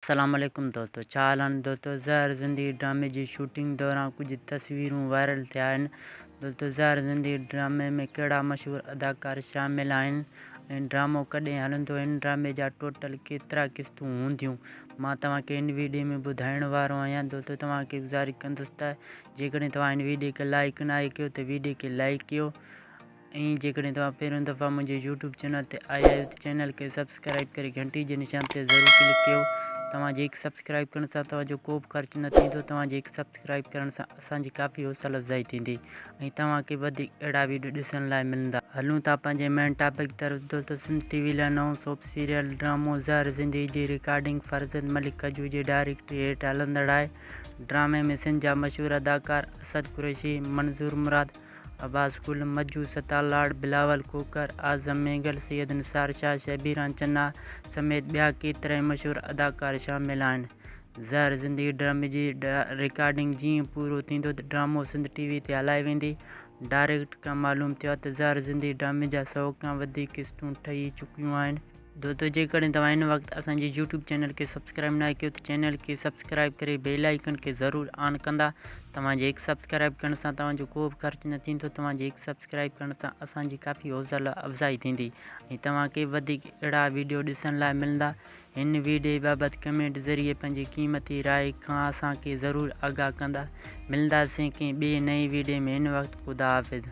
سلام عليڪم دوستو ڇا حال آھن دوستو زهر زندگي ڊرامي جي شوٽنگ دوران ڪجهه تصويرون وائرل ٿيا آھن دوستو زهر زندگي ڊرامي ۾ ڪهڙا مشهور اداڪار شامل آھن ۽ ڊرامو ڪڏهن هلندو هن ڊرامي جا ٽوٽل ڪيترا قسطون هونديون مان توهان کي هن ويڊيو ۾ ٻڌائڻ وارو آھيان دوستو توهان کي گذارش ڪندس ته جيڪڏهن توهان هن ويڊيو کي لائڪ ناهي ڪيو ته ويڊيو کي لائڪ ڪيو ۽ جيڪڏهن توهان پهريون دفعا منهنجي يوٽيوب چينل تي آيا آهيو ته چينل کي سبسڪرائب ڪري گهنٽي جي نشان تي ضرور ڪلڪ ڪيو توهان جي هڪ سبسڪرائب ڪرڻ سان توهان جو ڪوبه خرچ نه ٿيندو توهان جي هڪ سبسڪرائب ڪرڻ سان اسان جي ڪافي حوصله افزائي ٿيندي ۽ توهان کي وڌيڪ اهڙا ويڊيو ڏسڻ لاء ملندا. هلون ٿا پنهنجي مين ٽاپڪ طرف دوستو سنڌ ٽي وي لاء نئون سوپ سيريل ڊرامو زهر زندگي جي رڪارڊنگ فرزند ملڪ ڪجو جي ڊائريڪٽري هيٺ هلندڙ آهي ڊرامي ۾ سنڌ جا مشهور اداڪار اسد قريشي، منظور مراد، عباس گل، مجو ستار لاڙ، بلاول کوکر، اعظم مينگل، سيد نثار شاهه، شبيران چنا سميت ٻيا ڪيترائي مشهور اداڪار شامل آهن. زهر زندگي ڊرامي جي رڪارڊنگ جيئن پورو ٿيندو ته ڊرامو سنڌ ٽي وي تي هلائي ويندي. ڊائريڪٽر کان معلوم ٿيو آهي ته زهر زندگي ڊرامي جا سؤ کان وڌيڪ قسطون ٺهي چڪيون آهن. دوستو جيڪڏهن توهان هن وقت اسان جي يوٽيوب چينل کي سبسڪرائب ناهي ڪيو ته چينل کي سبسڪرائب ڪري بيل آئيڪن کي ضرور آن ڪندا توهان جي هڪ سبسڪرائب ڪرڻ سان توهان جو ڪو به خرچ نه ٿيندو توهان جي هڪ سبسڪرائب ڪرڻ سان اسان جي ڪافي حوصلا افزائي ٿيندي ۽ توهان کي وڌيڪ اهڙا ويڊيو ڏسڻ لاء ملندا هن ويڊيو بابت ڪمينٽ ذريعي پنهنجي قيمتي راء کان اسان کي ضرور آگاهه ڪندا ملنداسين ڪنهن ٻي نئين ويڊيو ۾ هن وقت خدا حافظ